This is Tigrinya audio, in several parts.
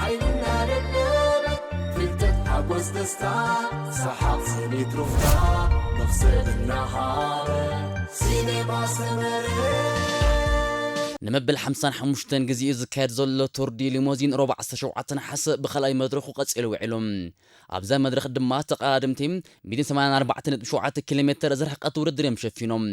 ሓይሊ እናደለበት ፍልጠት ሓጎስ ደስታ ሰሓቕ ስኒት ሩፍታ መኽሰብ እናሃበ ሲነማ ሰመረ። ንመበል ሓምሳን ሓሙሽተን ግዜኡ ዝካየድ ዘሎ ቱር ዲ ሊሞዚን ሮብ ዓሰርተ ሸውዓተ ነሓሰ ብካልኣይ መድረኹ ቀጺሉ ውዒሉ። ኣብዛ መድረኽ ድማ ተቐዳደምቲ ሚእትን ሰማንያን ኣርባዕተን ነጥቢ ሸውዓተ ኪሎ ሜተር ዝርሕቐት ውድድር እዮም ሸፊኖም።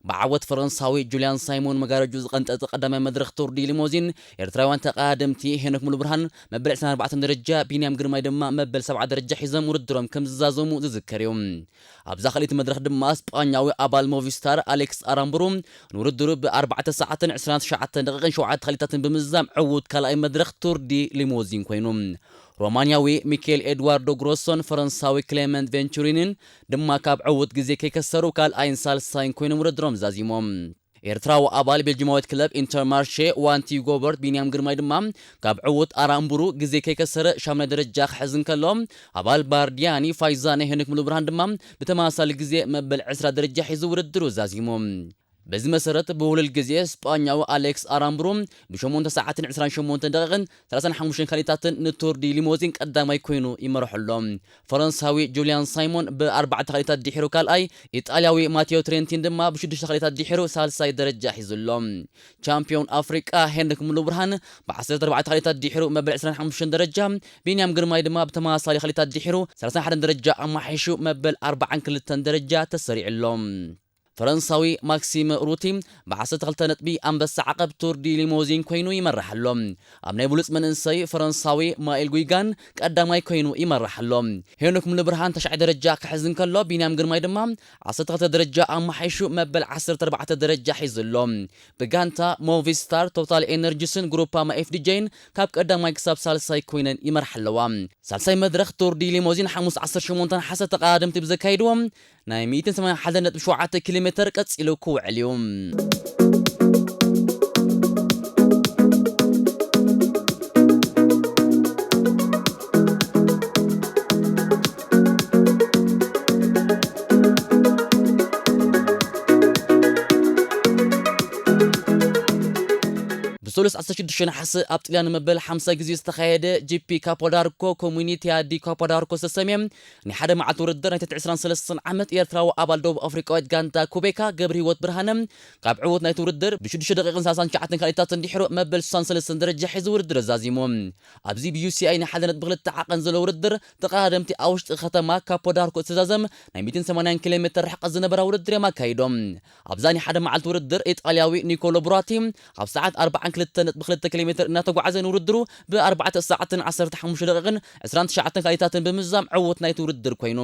ብዓወት ፈረንሳዊ ጁልያን ሳይሞን መጋረጅኡ ዝቐንጠጠ ቀዳማይ መድረኽ ቱር ዲ ሊሞዚን፣ ኤርትራውያን ተቐዳደምቲ ሄኖክ ሙሉብርሃን መበል ዕስራን ኣርባዕተን ደረጃ፣ ቢንያም ግርማይ ድማ መበል ሰብዓ ደረጃ ሒዞም ውድድሮም ከም ዝዛዘሙ ዝዝከር እዩ። ኣብዛ ካልኣይቲ መድረኽ ድማ ስጳኛዊ ኣባል ሞቪስታር ኣሌክስ ኣራምቡሩ ንውድድሩ ብ ኣርባዕተ ሰዓትን ዕስራን ትሽዓተን ደቒቕን ሸውዓተ ክሊታትን ብምዝዛም ዕዉት ካልኣይ መድረኽ ቱር ዲ ሊሞዚን ኮይኑ። ሮማንያዊ ሚኬል ኤድዋርዶ ግሮሶን ፈረንሳዊ ክሌመንት ቬንቹሪኒን ድማ ካብ ዕዉት ግዜ ከይከሰሩ ካልኣይን ሳልሳይን ኮይኖም ውድድሮም ዛዚሞም። ኤርትራዊ ኣባል ቤልጂማዊት ክለብ ኢንተርማርሼ ዋንቲ ዩጎበርት ቢንያም ግርማይ ድማ ካብ ዕዉት ኣራ እምቡሩ ግዜ ከይከሰረ ሻሙናይ ደረጃ ክሕዝ እንከሎ፣ ኣባል ባርዲያኒ ፋይዛነ ሄኖክ ሙሉብርሃን ድማ ብተመሳሳሊ ግዜ መበል ዕስራ ደረጃ ሒዙ ውድድሩ ዛዚሙ። በዚ መሰረት ብውህሉል ግዜ ስጳኛዊ ኣሌክስ ኣራምብሩ ብሸሞንተ ሰዓትን ዕስራን ሸሞንተን ደቒቕን ሰላሳን ሓሙሽተን ካሊታትን ንቱር ዲ ሊሞዚን ቀዳማይ ኮይኑ ይመርሖ ኣሎ። ፈረንሳዊ ጁልያን ሳይሞን ብኣርባዕተ ካሊታት ድሒሩ ካልኣይ፣ ኢጣልያዊ ማቴዮ ትሬንቲን ድማ ብሽዱሽተ ካሊታት ድሒሩ ሳልሳይ ደረጃ ሒዙ ኣሎ። ቻምፕዮን ኣፍሪቃ ሄንሪክ ሙሉብርሃን ብዓሰርተ ኣርባዕተ ካሊታት ድሒሩ መበል ዕስራን ሓሙሽተን ደረጃ፣ ቢንያም ግርማይ ድማ ብተመሳሳሊ ካሊታት ድሒሩ ሰላሳን ሓደን ደረጃ ኣማሓይሹ መበል ኣርባዓን ክልተን ደረጃ ተሰሪዑ ኣሎ። ፈረንሳዊ ማክሲም ሩቲ ብ ዓሰርተ ክልተ ነጥቢ ኣንበሳ ዓቐብ ቱር ዲ ሊሞዚን ኮይኑ ይመርሕ ኣሎ። ኣብ ናይ ብሉጽ መንእሰይ ፈረንሳዊ ማይል ጉይጋን ቀዳማይ ኮይኑ ይመርሕ ኣሎ። ሄኖክ ሙሉብርሃን ታሽዓይ ደረጃ ክሕዝ እንከሎ ቢንያም ግርማይ ድማ ዓሰርተ ክልተ ደረጃ ኣመሓይሹ መበል ዓሰርተ ኣርባዕተ ደረጃ ሒዙ ኣሎ። ብጋንታ ሞቪስታር፣ ቶታል ኤነርጂስን ግሩፓማ ኤፍዲጄይን ካብ ቀዳማይ ክሳብ ሳልሳይ ኮይነን ይመርሓ ኣለዋ። ሳልሳይ መድረኽ ቱር ዲ ሊሞዚን ሓሙስ ዓሰርተ ሸሞንተ ነሓሰ ተቐዳደምቲ ብዘካይድዎ ናይ ሚእትን ሰማንያን ሓደ ነጥቢ ሸውዓተ ኪሎ ሜተር ቀጺሉ ክውዕል እዩ። ብሰሉስ ዓሰርተ ሽዱሽተ ነሓሰ ኣብ ጥልያን ንመበል ሓምሳ ግዜ ዝተኻየደ ጂፒ ካፖዳርኮ ኮሙኒቲያ ዲ ካፖዳርኮ ዝተሰምየ ናይ ሓደ መዓልቲ ውድድር ናይ ትሕቲ ዕስራን ሰለስተን ዓመት ኤርትራዊ ኣባል ደቡብ ኣፍሪቃዊት ጋንታ ኩቤካ ገብርሂወት ብርሃነ ካብ ዕውት ናይቲ ውድድር ብ ሽዱሽተ ደቂቅን ሳልሳን ትሽዓተን ካልኢታትን ድሒሩ መበል ስሳን ሰለስተን ደረጃ ሒዙ ውድድር ኣዛዚሙ ኣብዚ ብ UCI ናይ ሓደ ነጥቢ ክልተ ዓቐን ዘለዎ ውድድር ተቐዳደምቲ ኣብ ውሽጢ ከተማ ካፖ ዳርኩ እትዛዘም ናይ ሚእትን ሰማንያን ኪሎሜተር ርሕቐት ዝነበራ ውድድር እዮም ኣካይዶም ኣብዛ ናይ ሓደ መዓልቲ ውድድር ኢጣልያዊ ኒኮሎ ቡራቲ ኣብ ሰዓት ኣርብዓን ክልተን ነጥቢ ክልተ ኪሎ ሜትር እናተጓዕዘ ንውድድሩ ብ ኣርባዕተ ሰዓትን ዓሰርተ ሓሙሽተ ደቒቕን ዕስራን ትሽዓተን ካልኢታትን ብምዝዛም ዕውት ናይቲ ውድድር ኮይኑ።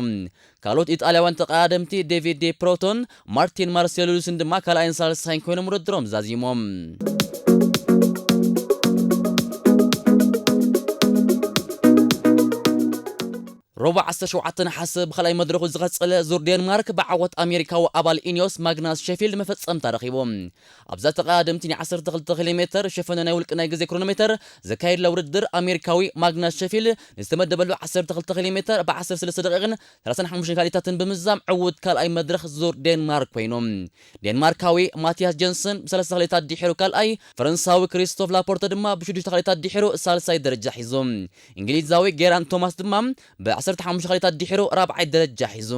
ካልኦት ኢጣልያውያን ተቐዳደምቲ ዴቪድ ዴ ፕሮቶን ማርቲን ማርሴሉሉስን ድማ ካልኣይን ሳልሳይን ኮይኖም ውድድሮም ዛዚሞም። ረቡዕ ዓሰርተ ሸውዓተ ነሓሰ ብኻልኣይ መድረኹ ዝቐጸለ ዙር ዴንማርክ ብዓወት ኣሜሪካዊ ኣባል ኢንዮስ ማግናስ ሸፊልድ መፈጸምታ ረኺቡ። ኣብዛ ተቐዳደምቲ ናይ ዓሰርተ ክልተ ኪሎ ሜተር ሸፈነ ናይ ውልቂ ናይ ግዜ ክሮኖሜተር ዘካየድላ ውድድር ኣሜሪካዊ ማግናስ ሸፊልድ ንዝተመደበሉ ዓሰርተ ክልተ ኪሎ ሜተር ብ ዓሰርተ ሰለስተ ደቒቕን ሰላሳን ሓሙሽተን ካልኢታትን ብምዝዛም ዕዉት ካልኣይ መድረኽ ዙር ዴንማርክ ኮይኑ። ዴንማርካዊ ማቲያስ ጀንሰን ብ ሰለስተ ካልኢታት ድሒሩ ካልኣይ፣ ፈረንሳዊ ክሪስቶፍ ላፖርተ ድማ ብ ሽዱሽተ ካልኢታት ድሒሩ ሳልሳይ ደረጃ ሒዙ። እንግሊዛዊ ጌራንት ቶማስ ድማ ብ ዓሰርተ ሓሙሽተ ካልኢታት ድሒሩ ራብዓይ ደረጃ ሒዙ።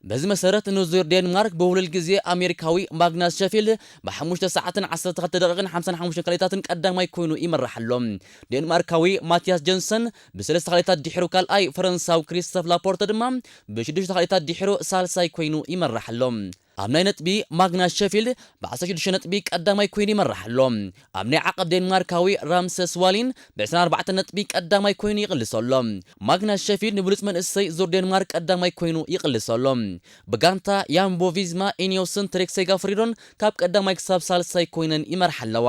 በዚ መሰረት ንዙር ዴንማርክ ብውህሉል ግዜ ኣሜሪካዊ ማግናስ ሸፊልድ ብ ሓሙሽተ ሰዓትን ዓሰርተ ክልተ ደቒቕን ሓምሳን ሓሙሽተን ካልኢታትን ቀዳማይ ኮይኑ ይምራሕ ኣሎ። ዴንማርካዊ ማቲያስ ጀንሰን ብ ሰለስተ ካልኢታት ድሒሩ ካልኣይ፣ ፈረንሳዊ ክሪስቶፍ ላፖርተ ድማ ብ ሽዱሽተ ካልኢታት ድሒሩ ሳልሳይ ኮይኑ ይምራሕ ኣሎ። ኣብ ናይ ነጥቢ ማግናስ ሸፊልድ ብ ዓሰርተ ሽዱሽተ ነጥቢ ቀዳማይ ኮይኑ ይመርሕ ኣሎ። ኣብ ናይ ዓቐብ ዴንማርካዊ ራምሰስ ዋሊን ብ ዕስራን ኣርባዕተን ነጥቢ ቀዳማይ ኮይኑ ይቕልሶ ኣሎ። ማግናስ ሸፊልድ ንብሉጽ መንእሰይ ዙር ዴንማርክ ቀዳማይ ኮይኑ ይቕልሶ ኣሎ። ብጋንታ ያምቦ ቪዝማ ኢኒዮስን ትሬክ ሴጋፍሪዶን ካብ ቀዳማይ ክሳብ ሳልሳይ ኮይነን ይመርሓ ኣለዋ።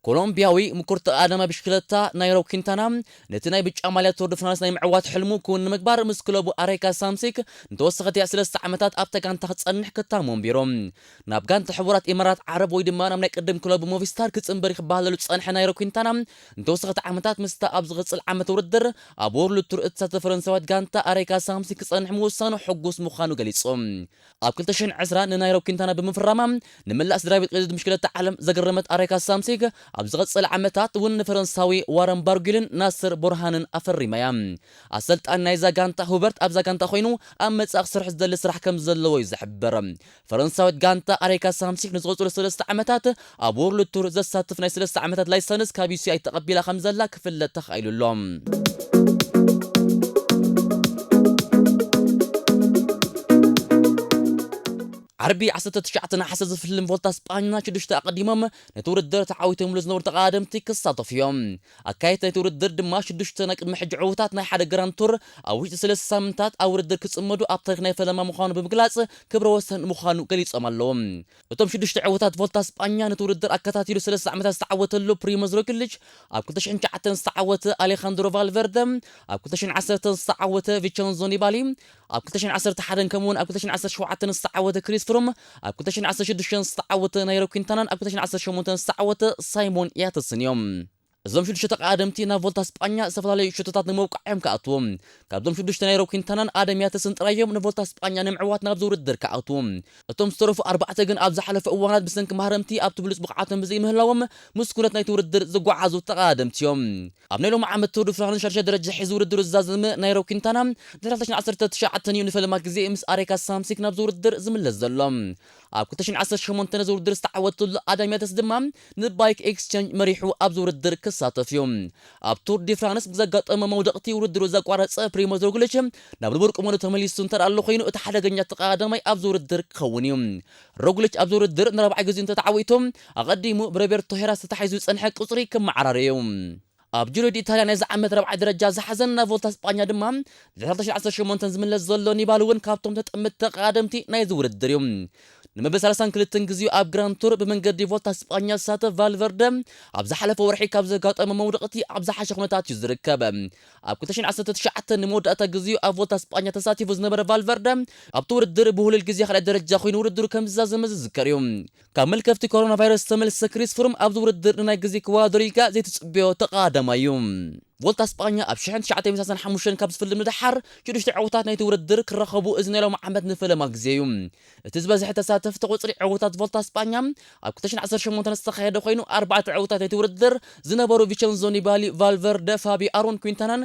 ኮሎምብያዊ ምኩር ተቐዳዳማይ ብሽክለታ ናይሮ ኲንታና ነቲ ናይ ብጫ ማልያ ቱር ደ ፍራንስ ናይ ምዕዋት ሕልሙ ክውን ንምግባር ምስ ክለቡ ኣሬካ ሳምሲክ ንተወሰኸቲ ስለስተ ዓመታት ኣብታ ጋንታ ክጸንሕ ክታሙ ኣንቢሩ ናብ ጋንታ ሕቡራት ኢማራት ዓረብ ወይ ድማ ናብ ናይ ቅድም ክለቡ ሞቪስታር ክጽንበር ክበሃለሉ ዝጸንሐ ናይሮ ኲንታና ንተወሰኸቲ ዓመታት ምስታ ኣብ ዝቕጽል ዓመተ ውድድር ኣብ ዎርልድ ቱር እትሳተፍ ፈረንሳዊት ጋንታ ኣሬካ ሳምሲክ ክጸንሕ ምውሳኑ ሕጉስ ምዃኑ ገሊጹ። ኣብ ክልተ ሽሕን ዕስራን ንናይሮብ ኲንታና ብምፍራማ ንመላእ ስድራቤት ቅድድም ብሽክለታ ዓለም ዘገረመት ኣሬካ ሳምሲግ፣ ኣብ ዝቐጸለ ዓመታት እውን ንፈረንሳዊ ዋረን ባርጒልን ናስር ቡርሃንን ኣፈሪማ እያ። ኣሰልጣኒ ናይዛ ጋንታ ሁበርት ኣብዛ ጋንታ ኰይኑ ኣብ መጻኢ ክሰርሕ ዝደሊ ስራሕ ከምዘለዎ እዩ ዝሕበር። ፈረንሳዊት ጋንታ ኣሬካ ሳምሲግ ንዝቕጽሉ ሰለስተ ዓመታት ኣብ ዎርልድ ቱር ዘሳትፍ ናይ ሰለስተ ዓመታት ላይሰንስ ካብ UCI ተቐቢላ ከምዘላ ክፍለጥ ተኻኢሉ ኣሎ። ዓርቢ ዓሰርተ ትሽዓተ ነሓሰ ዝፍልም ቮልታ ስጳኛ ሽዱሽተ ኣቐዲሞም ነቲ ውድድር ተዓዊቶምሉ ዝነበሩ ተቐዳደምቲ ክሳተፉ እዮም። ኣካየድቲ ናይቲ ውድድር ድማ ሽዱሽተ ናይ ቅድሚ ሕጂ ዕዉታት ናይ ሓደ ግራንድ ቱር ኣብ ውሽጢ ሰለስተ ሳምንታት ኣብ ውድድር ክጽመዱ ኣብ ታሪኽ ናይ ፈለማ ምዃኑ ብምግላጽ ክብረ ወሰን ምዃኑ ገሊጾም ኣለዉ። እቶም ሽዱሽተ ዕውታት ቮልታ ስጳኛ ነቲ ውድድር ኣከታቲሉ ሰለስተ ዓመታት ዝተዓወተሉ ፕሪሞዝ ሮግሊች፣ ኣብ ክልተ ሽሕን ትሽዓተን ዝተዓወተ ኣሌኻንድሮ ቫልቨርደ፣ ኣብ ክልተ ሽሕን ዓሰርተን ዝተዓወተ ቪቸንዞ ኒባሊ፣ ኣብ ክልተ ሽሕን ዓሰርተ ሓደን ከምኡ'ውን ኣብ ክልተ ሽሕን ዓሰርተ ሸውዓተን ዝተዓወተ ክሪስ ፍሩም፣ ኣብ ክልተ ሽሕን ዓሰርተ ሽዱሽተን ዝተዓወተ ናይሮ ኲንታናን ኣብ ክልተ ሽሕን ዓሰርተ ሸሞንተን ዝተዓወተ ሳይሞን ያትስን እዮም። እዞም ሽዱሽተ ተቐዳደምቲ ናብ ቮልታ ስጳኛ ዝተፈላለዩ ሸቶታት ንምውቃዕ እዮም ክኣትዉ። ካብዞም ሽዱሽተ ናይሮ ኲንታናን ኣደም ያተስን ጥራይ እዮም ንቮልታ ስጳኛ ንምዕዋት ናብዚ ውድድር ክኣትዉ። እቶም ዝተረፉ ኣርባዕተ ግን ኣብ ዝሓለፈ እዋናት ብሰንኪ ማህረምቲ ኣብቲ ብሉጽ ብቕዓቶም ብዘይምህላዎም ምስ ኩነት ናይቲ ውድድር ዝጓዓዙ ተቐዳደምቲ እዮም። ኣብ ናይ ሎሚ ዓመት ቱር ዱ ፍራንስ ሻድሻይ ደረጃ ሒዙ ውድድሩ ዝዛዘመ ናይሮ ኲንታና ድሕሪ ክልተ ሽሕን ዓሰርተ ትሽዓተን እዩ ንፈለማ ግዜ ምስ ኣሬካ ሳምሲክ ናብዚ ውድድር ዝምለስ ዘሎ። ኣብ ክልተ ሽሕን ዓሰርተ ሸሞንተን ነዚ ውድድር ዝተዓወተትሉ ኣደም ያተስ ድማ ንባይክ ኤክስቸንጅ መሪሑ ኣብዚ ውድድር ክሳተፍ እዩ። ኣብ ቱር ዲ ፍራንስ ብዘጋጠሞ መውደቕቲ ውድድሩ ዘቋረጸ ፕሪሞዝ ሮግሊች ናብ ንቡር ቁመንኡ ተመሊሱ እንተደኣሎ ኮይኑ እቲ ሓደገኛ ተቐዳዳማይ ኣብዚ ውድድር ክኸውን እዩ። ሮግሊች ኣብዚ ውድድር ንራብዓይ ግዜኡ እንተተዓዊቱ ኣቐዲሙ ብሮቤርቶ ሄራ ተታሒዙ ዝጸንሐ ቁጽሪ ክመዓራረ እዩ። ኣብ ጁሮዲ ኢታልያ ናይዚ ዓመት ራብዓይ ደረጃ ዝሓዘን ናብ ቮልታ ስጳኛ ድማ ድሕሪ ክልተ ሽሕ ዓሰርተ ሸሞንተ ዝምለስ ዘሎ ኒባል እውን ካብቶም ተጠምትቲ ተቐዳደምቲ ናይዚ ውድድር እዩ። ንመበል ሳልሳን ክልትን ግዜኡ ኣብ ግራንድ ቱር ብመንገዲ ቮልታ ስጳኛ ዝሳተፍ ቫልቨርደ ኣብ ዝሓለፈ ወርሒ ካብ ዘጋጠሞ መውደቕቲ ኣብ ዝሓሸ ኩነታት እዩ ዝርከብ። ኣብ ክልተ ሽሕን ዓሰርተ ትሽዓተን ንመወዳእታ ግዜኡ ኣብ ቮልታ ስጳኛ ተሳቲፉ ዝነበረ ቫልቨርደ ኣብቲ ውድድር ብውህሉል ግዜ ካልኣይ ደረጃ ኮይኑ ውድድሩ ከምዝዛዘመ ዝዝከር እዩ። ካብ መልከፍቲ ኮሮናቫይረስ ዝተመልሰ ክሪስ ፍሩም ኣብዚ ውድድር ንናይ ግዜ ክወዳደር ኢልካ ዘይትጽበዮ ተቓዳማይ'ዩ። ቮልታ ስጳኛ ኣብ ሽሕን ትሽዓተይ ሚእትን ሰላሳን ሓሙሽተን ካብ ዝፍልም ንደሓር፣ ሽዱሽተ ዕውታት ናይቲ ውድድር ክራኸቡ እዚ ናይ ሎሚ ዓመት ንፈለማ ግዜ'ዩ። እቲ ዝበዝሐ ተሳተፍቲ ቁጽሪ ዕውታት ቮልታ ስጳኛ ኣብ ክልተ ሽሕን ዓሰርተ ሸሞንተን ዝተኻየደ ኮይኑ፣ ኣርባዕተ ዕውታት ናይቲ ውድድር ዝነበሩ ቪቸንዞ ኒባሊ፣ ቫልቨርደ፣ ፋቢ ኣሮን፣ ኲንታናን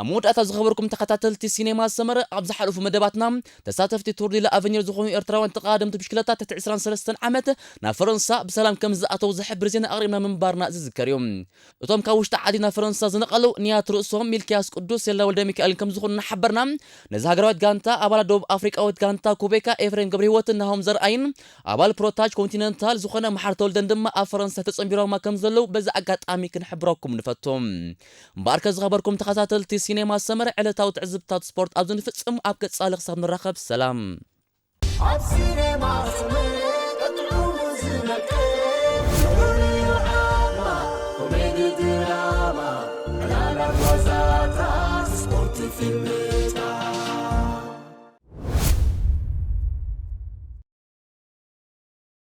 ኣብ መወዳእታ ዝኸበርኩም ተኸታተልቲ ሲኔማ ሰመረ ኣብ ዝሓለፉ መደባትና ተሳተፍቲ ቱር ዲ ላኣቨኘር ዝኾኑ ኤርትራውያን ተቐዳደምቲ ብሽክለታ ትሕቲ ዕስራን ሰለስተን ዓመት ናብ ፈረንሳ ብሰላም ከምዝኣተው ዝሕብር ዜና ኣቕሪብና ምንባርና ዝዝከር እዩ። እቶም ካብ ውሽጢ ዓዲ ናብ ፈረንሳ ዝነቐሉ ንያት ርእሶም ሚልክያስ ቅዱስ ሴላ ወልደሚካኤልን ከምዝኾኑ እናሓበርና ነዛ ሃገራዊት ጋንታ ኣባላት ደቡብ ኣፍሪቃዊት ጋንታ ኩቤካ ኤፍሬም ገብረሂወትን ናሆም ዘርኣይን ኣባል ፕሮታጅ ኮንቲነንታል ዝኾነ መሓሪ ተወልደን ድማ ኣብ ፈረንሳ ተጸንቢሮማ ከምዘለው በዚ ኣጋጣሚ ክንሕብረኩም ንፈቱ። እምበኣርከ ዝኸበርኩም ተኸታተልቲ ሲኔማ ሰመረ ዕለታዊ ትዕዝብትታት ስፖርት ኣብዚ ንፍጽም ኣብ ቀጻሊ ክሳብ ንራኸብ ሰላም። ኣብ ሲነማ ሰመረ ጥዑሙ ዝነቅል ስሑል'ዩ ዓቕማ ኮሜዲ ድራማ ዕላላት ዋዛታት ስፖርት ፊልምታት።